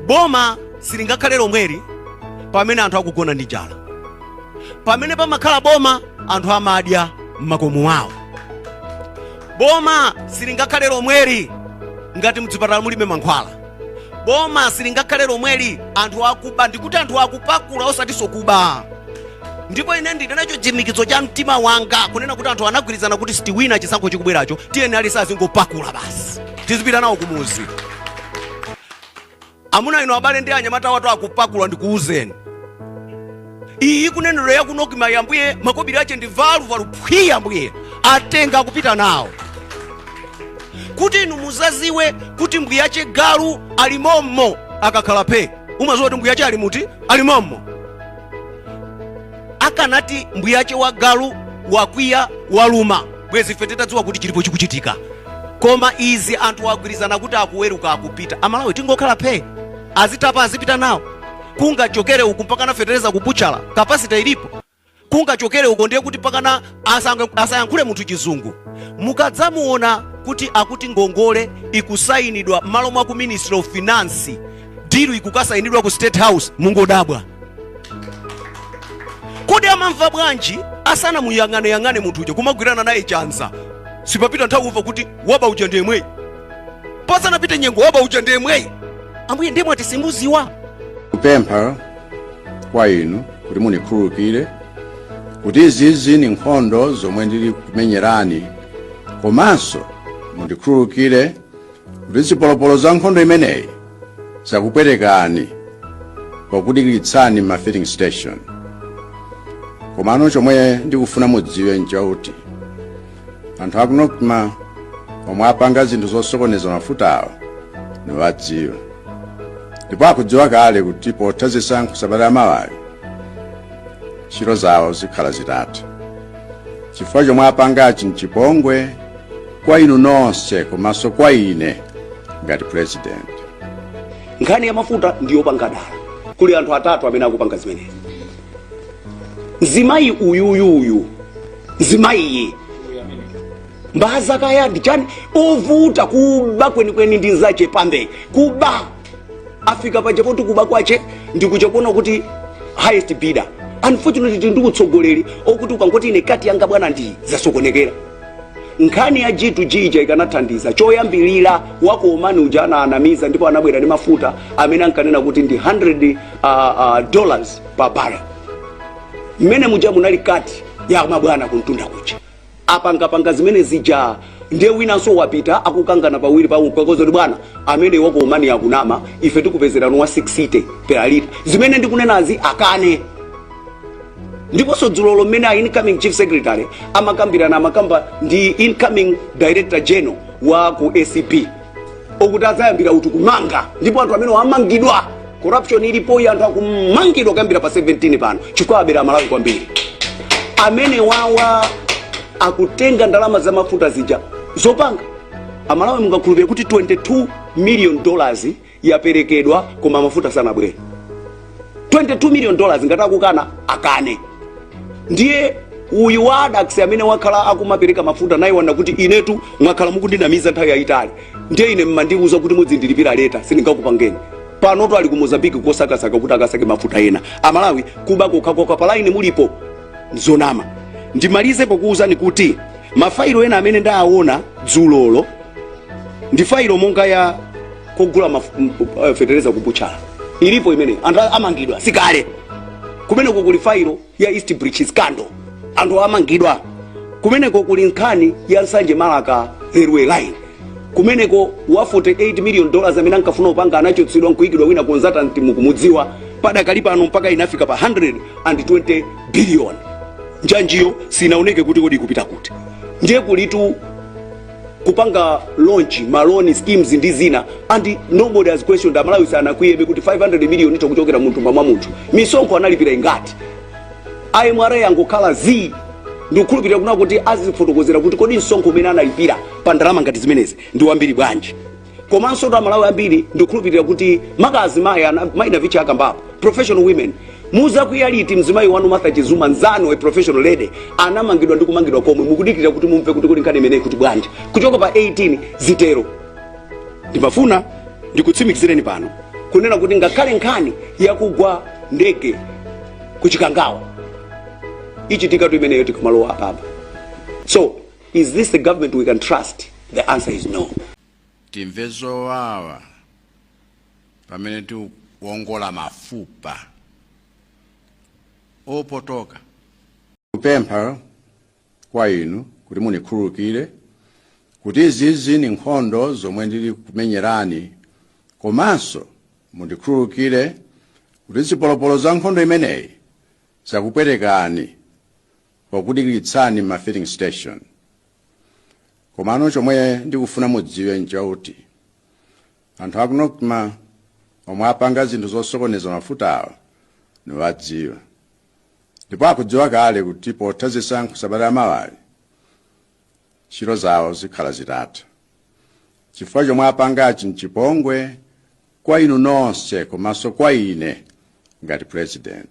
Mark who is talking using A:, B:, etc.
A: boma silingakhale lomweli pamene anthu akugona ndi njala pamene pamakhala boma anthu amadya m'makomo awo boma silingakhale lomweli ngati mchipatala mulibe mankhwala boma silingakhale lomweli anthu akuba ndikuti anthu akupakula osatinso kuba ndipo ine ndili nacho chitsimikizo cha mtima wanga kunena kuti anthu anagwirizana kuti sitiwina chisankho chikubweracho tiyeni aliyense azingopakula basi tizipita nawo kumuzi amuna inu abale ndi anyamatawa atu akupakula ndikuuzeni iyi kunenero ya ku nocma ya ambuye makobiri ache ndi valuvalu phwii ambuye atenga akupita nawo kuti inu muzaziwe kuti mbuyache galu ali mommo akakhala phe umaziwa kuti mbuyache ali muti ali mommo akanati mbuyache wa galu wakwiya waluma bwezi ife titadziwa kuti chilipo chikuchitika koma izi anthu agwirizana kuti akuweruka akupita amalawi tingokhala phe azitapa azipita nawo kungachokere uku mpakana fetereza kubuchala kapasita ilipo kungachokere uko ndiye kuti pakana asayankhule munthu chizungu mukadzamuona kuti akuti ngongole ikusayinidwa m'malo mwa ku ministry of finance dilu ikukasayinidwa ku state house mungodabwa kodi amamva bwanji asanamuyang'aneyang'ane munthu uja kumagwirana naye chanza sipapita nthawi kumva kuti waba uja ndiye mweyi pasanapite nyengo waba uja ndiye mweyi ambuye ndiye mweyi ati simuziwa
B: kupempha kwa inu kuti mundikhululukire kuti izizi ndi nkhondo zomwe ndili kumenyerani komanso mundikhululukire kuti zipolopolo za nkhondo imeneyi zakupwetekani pokudikiritsani m'ma filling station komano chomwe ndikufuna mudziwe nchakuti anthu aku nocma omwe apanga zinthu zosokoneza mafutawo niwadziwa ndipo akudziwa kale kuti potha zisankho sabata lamawali ntchito zawo zikhala zitatha chifukwa chomwe apangachi nchipongwe kwa inu nonse komanso kwa ine ngati
C: president nkhani ya mafuta ndiyopanga dala kuli anthu atatu amene akupanga zimenezi mzimayi uyuyuyu mzimayi mbaza kaya ndichani ovuta kuba kwenikweni ndi nzache pambe kuba afika paja poti kuba kwache ndikuja koona kuti highest bidder unfortunately tili ndi utsogoleri okuti ukangoti ine kati yanga bwana ndi zasokonekera nkhani ya g2g ija ikanathandiza choyambirira waku omani uja anaanamiza ndipo anabwera ndi mafuta amene ankanena kuti ndi 100 dollars pa barrel mmene muja munali kati ya mabwana kumtunda kuja apangapanga zimene zija ndiye winanso wapita akukangana pawiri pawo kwakoza kuti bwana amenewa ku omani akunama ife tikupezerani wa 60 per lita zimene ndikunenazi akane ndiponso dzulolo mmene a incoming chief secretary amakambirana amakamba ndi incoming director general wa ku acb okuti adzayambira uti kumanga ndipo anthu amenewa amangidwa corruption ilipoyi anthu akumangidwa kuyambira pa 17 pano chifukwa abera amalawi kwambiri amenewawa akutenga ndalama za mafuta zija zopanga amalawi mungakhulupirire kuti 22 million dollars yaperekedwa koma mafuta sanabwere 22 million dollars ngati akukana akane ndiye uyu wa addax amene wakhala akumapereka mafuta naye waona kuti inetu mwakhala mukundinamiza nthawi yayitali ndiye ine mmandiuza kuti mudzindilipira later sindingakupangeni panotu ali ku mozambique kosakasaka kuti akasake mafuta ena amalawi kuba kokhakokha palaini mulipo zonama ndimalize pokuwuzani kuti mafailo ena amene ndaawona dzulolo ndi failo monga ya kogula maf- m- eh, fetereza kubuchala ilipo imene anthu a- amangidwa sikale kumeneko kuli failo ya east bridge scandal anthu amangidwa kumeneko kuli nkhani ya nsanje marka railway line kumeneko wa 48 million dollars amene ankafuna kupanga anachotsedwa nkuikidwa wina consultant mukumudziwa padakali pano mpaka inafika pa 120 billion njanjiyo sinaoneke kuti kodi ikupita kuti ndiye kulitu kupanga launch maloni schemes ndi zina and nobody has questioned amalawi sanakwiyebe kuti 500 million itha kuchokera mthumba mwa munthu misonkho analipira ingati a mra angokhala zii ndikukhulupirira kuna kuti azifotokozera kuti kodi msonkho umene analipira pa ndalama ngati zimenezi ndi wambiri bwanji komanso kuti amalawi ambiri ndikukhulupirira kuti maka azimayi ana- mayi navicha akambapo professional women muzakwiya liti mzimayi wanu martha chizuma nzanu a professional lady anamangidwa ndi kumangidwa komwe mukudikirira kuti mumve kuti kodi nkhani imeneyi ikuti bwanji kuchoka pa 18 zitero ndimafuna ndikutsimikizireni pano kunena kuti ngakhale nkhani yakugwa ndege kuchikangawa ichitikatu imeneyo tikamalowa apapa so Is this the government we can trust? The answer is no.
B: timve zowawa pamene tiwongola mafupa opotoka kupempha kwa inu kuti mundikhululukire kuti izizi ndi nkhondo zomwe ndili kumenyerani komanso mundikhululukire kuti zipolopolo za nkhondo imeneyi zakupwetekani pokudikiritsani ma filling station komano chomwe ndikufuna mudziwe nchakuti anthu aku nocma omwe apanga zinthu zosokoneza mafutawo niwadziwa ndipo akudziwa kale kuti potha zisankho sabata ya mawali ntchito zawo zikhala zitatha chifukwa chomwe apangachi nchipongwe kwa inu nonse komanso kwa ine ngati president